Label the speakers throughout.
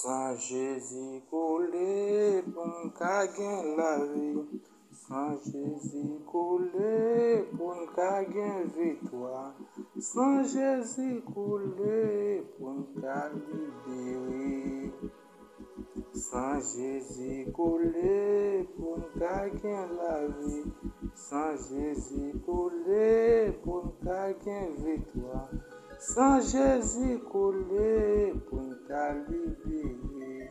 Speaker 1: San Jezi koule pou m ka gen lavi San Jezi koule pou m ka gen viktwa San Jezi koule pou m ka libere San Jezi kole pou n ka gen lavi San Jezi kole pou n ka gen viktwa San Jezi kole pou n ka libere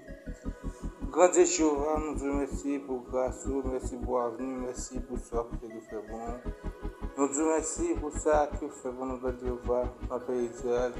Speaker 1: Grandye Jewova nou di w mèsi pou gras ou, mèsi pou avni w, mèsi pou sa w toujou fè pou nou Nou di w mèsi pou sa ke w fè pou nou Grandye Jewova nan peyi Izrayèl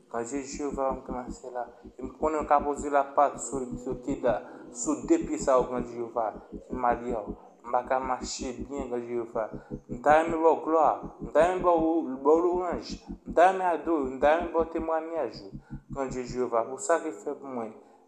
Speaker 1: Ka je Jewova yo m te mache la, e m konnen yo ka poze lapat sou yo te da, sou de pye sa yo gran Jewova, ki malye w. M pa ka mache byen gran Jewova. M ta renmen ba w glwa, m ta renmen ba w louwanj, m ta renmen adore w, m ta renmen ba w temwanyaj ou, gran Dye Jewova, pou sa ke fè pou mwen.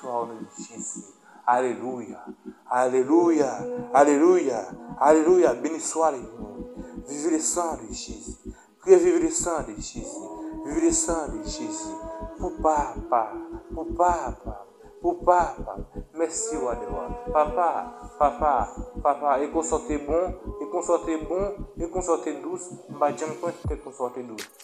Speaker 1: Ton Jezi. Alelouya. Alelouya. Alelouya. Alelouya. Beni swa li nou. Vivi le san de Jezi. Priye vivi le san de Jezi. Vivi le san de Jezi. Pou papa. Pou papa. Pou papa. Mèsi wa de wa. Papa. Papa. Papa. E konsa w te bon. E konsa w te bon. E konsa w te dous. M pa janm konn si te konsa w te dous.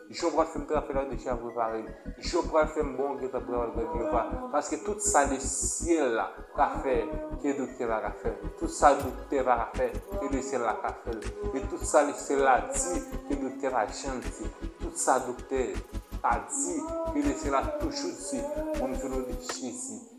Speaker 1: Jew pral fem trape la deja preparem jew pral fem bon gentan pran rèv jew pa paske tout sa le syèl la ka fè ke doktè pa ka fèl tout sa doktè pa ka fè ke le syèl la ka fèl e tout sa le syèl la di ke doktè pa janm di tout sa doktè pa di ke le syèl la toujou di moun vin nou li jezi.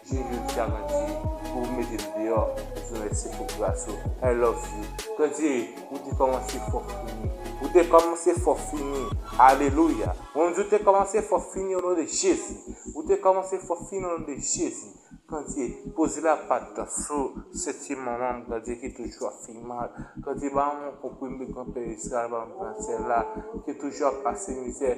Speaker 1: Ui jodia Gandhi pou ou mete li deyò ou di mèsi pou gras ou I love you Gandhi ou te kòmanse fò fini ou te kòmanse fò fini alelouya mwen m di ou te kòmanse fò fini o non de Jezi ou te kòmanse fò fini o non de Jezi Gandhi poze la pat sou senti manman m Gandhi ki toujou ap fè mal Gandhi ba mwen yon konprime granpè Israël ba m gransèl la ki toujou ap pase mizè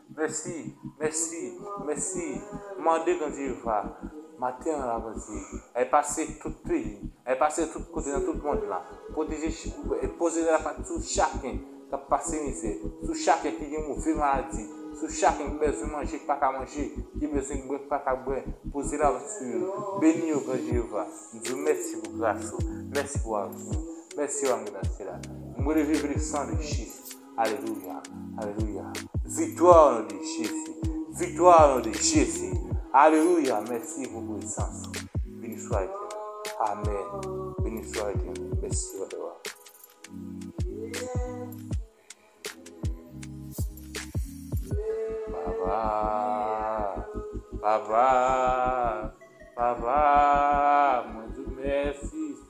Speaker 1: Mèsi mèsi mèsi mande bondye va maten an la bondye èl pase tout peyi èl pase tout kote nan tout mond la pwoteje e poze la pat sou chaken kap pase mizè sou chaken ki gen move maladi sou chaken ki bezwen manje ki paka manje ki bezwen bwè ki paka bwè poze la pat sou yo beni yo gran jeyova m diw mèsi pou gras ou mèsi pou avni mèsi ann gran sila m releve vle san de jezi. Alelouya alelouya viktwa o non de jezi viktwa o non de jezi alelouya mèsi pou presans ou beniswa etènèl amèn beniswa etènèl mèsi papa papa papa papa mwen diw mèsi.